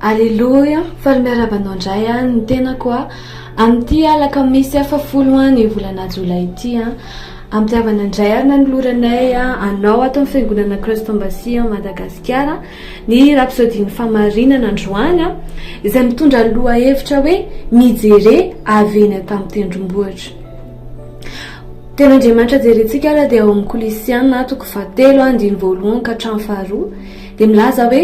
Aleloia, faly miarahaba anao indray an, ny tenako an, amin'ity alakamisy hafa folo an, ny volana jolay ity an, ampihavana indray ary nanoloranay an, anao ato amin'ny fiangonana Christ Embassy an, Madagasikara, ny rapsodin'ny famarinana androany an, izay mitondra ny lohahevitra hoe mijere avy eny an-tampon-tendrombohitra. Tena Andriamanitra jerentsika ary dia ao amin'ny Kolisiana toko fahatelo an, andininy voalohany ka hatramin'ny faharoa, dia milaza hoe,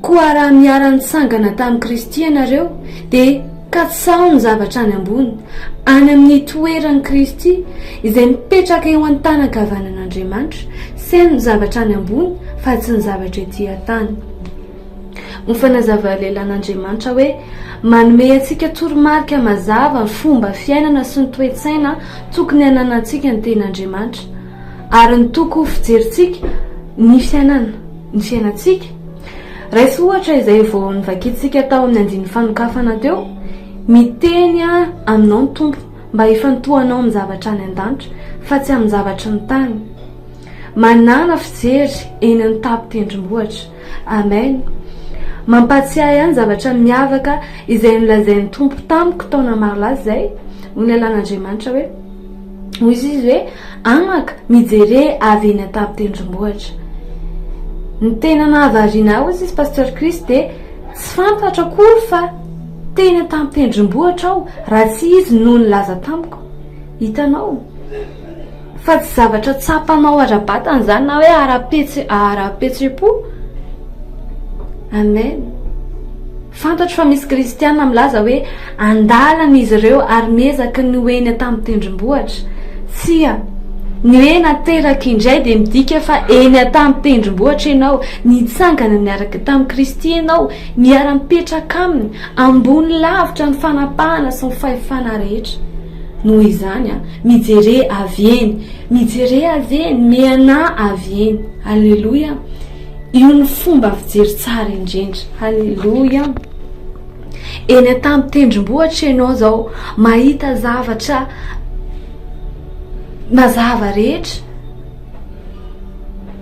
Koa raha miara-nitsangana tamin'i Kristy ianareo, dia katsaho ny zavatra any ambony, any amin'ny toeran'i Kristy, izay mipetraka eo an-tanan-kavanan'Andriamanitra, seno ny zavatra any ambony fa tsy ny zavatra etỳ an-tany. Ho fanazavana lehilahy an'Andriamanitra hoe manome antsika toromarika mazava ny fomba fiainana sy ny toe-tsaina tokony hananantsika ny Tenin'Andriamanitra, Ary ny toko ho fijerintsika ny fiainana, ny fiainantsika. Raiso ohatra izay vao novakintsika tao amin'ny andininy fanokafana teo, Miteny aminao ny Tompo mba hifantohanao amin'ny zavatra any an-danitra fa tsy amin'ny zavatry ny tany. Manàna fijery eny an-tapin-tendrombohitra. Amen! Mampahatsiahy ahy ny zavatra miavaka izay nolazain'ny Tompo tamiko taona maro lasa izay, hoy ny Alalan'Andriamanitra hoe, Hoy Izy hoe, Amaka, mijere avy eny an-tampon-tendrombohitra. Ny tena nahavariana ahy, hoy Izy, Pasteur Chris, dia tsy fantatro akory fa teny an-tampon-tendrombohitra aho raha tsy izy no nilaza tamiko. Hitanao? Fa tsy zavatra tsapanao ara-batana izany na hoe ara-pihetseham-po. Amen. Fantatro fa misy kristiana milaza hoe an-dalana izy ireo ary miezaky ny ho eny an-tampon-tendrombohitra. Tsia, ny hoe nateraka indray dia midika fa eny an-tampon-tendrombohitra ianao, nitsangana niaraka tamin'i Kristy ianao, miara-mipetraka Aminy, ambony lavitra ny fanapahana sy ny fahefana rehetra. Noho izany, mijere avy eny, mijere avy eny, mianà avy eny. Aleloia! Io no fomba fijery tsara indrindra. Aleloia! Eny an-tampon-tendrombohitra ianao izao, mahita zavatra mazava rehetra.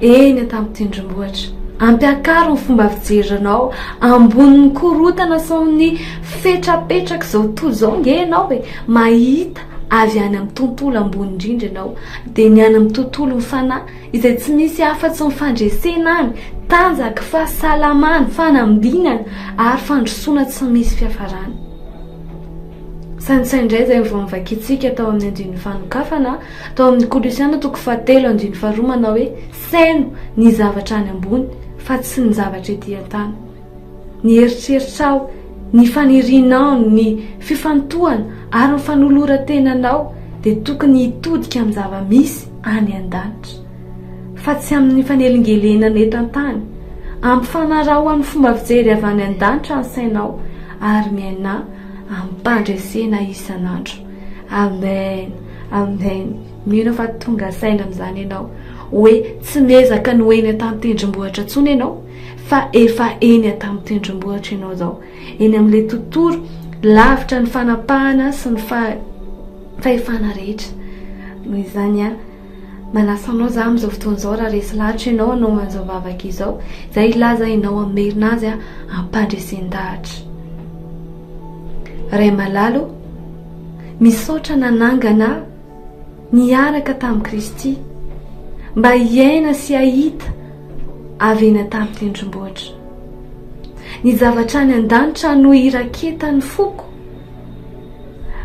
Eny an-tampon-tendrombohitra. Ampiakaro ny fomba fijerinao ambonin'ny korontana sy ny fetrapetrak'izao tontolo izao ange ianao e. Mahita avy any amin'ny tontolo ambony indrindra ianao, dia ny any amin'ny tontolon'ny fanahy izay tsy misy afa-tsy ny fandresena any, tanjaky, fahasalamana, fanambinana ary fandrosoana tsy misy fiafarany. Saintsaino indray izay vao novakintsika tao amin'ny andininy fanokafana, tao amin'ny Kolosiana toko fahatelo andininy faharoa manao hoe Saino ny zavatra any ambony fa tsy ny zavatra ety an-tany. Ny eritreritrao, ny fanirianao, ny fifantohana ary ny fanoloran-tenanao dia tokony hitodika amin'ny zava-misy any an-danitra, fa tsy amin'ny fanelingelenana eto an-tany. Ampifanaraho amin'ny fomba fijery avy any an-danitra ny sainao ary miaina ampandresena isan'andro. Amen, Amen, mino fa tonga saina amin'izany ianao hoe tsy miezaka ny ho eny an-tantendrombohitra intsony ianao fa efa eny an-tantendrombohitra ianao izao, eny amin'ilay tontolo lavitra ny fanapahana sy ny fa fahefana rehetra noho izany a. Manasa anao za amin'izao fotoana izao raha resy lahatra ianao hanao an'izao vavaka izao, izay hilaza ianao amin'ny merina azy ampandresen-dahatra. Ray malala o, misaotra nanangana ahy niaraka tamin'i Kristy mba hiaina sy hahita avy eny an-tamim-tendrombohitra. Ny zavatra any an-danitra no iraketan'ny foko.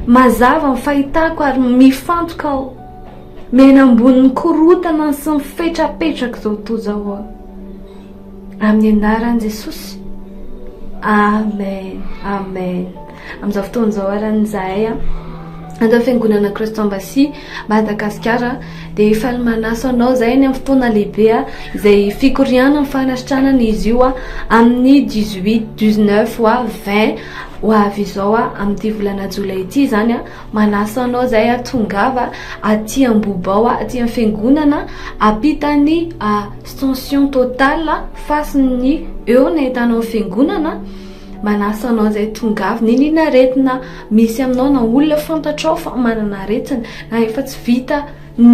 Mazava ny fahitako ary mifantoka aho. Miaina ambonin'ny korontana sy ny fetrapetraka izao toa izao aho. Amin'ny anaran'i Jesosy. Amen. Amen. Amin'izao fotoana izao arany izahay ato amin'ny fiangonana Christian Bassi Madagasikara dia faly manaso anao izay ny amin'ny fotoana lehibe izay fikorianan'ny fanasitranana izy io amin'ny 18 19 wa 20 ho avy izao amin'ity volana jolay ity izany Manasa anao izay a, tongava aty Ambohibao aty amin'ny fiangonana ampitan'ny Ascension Totale fasin'ny eo ny ahitanao ny fiangonana. Manasa anao izay tongava, n'inona aretina misy aminao na olona fantatrao fa manana aretina na efa tsy vita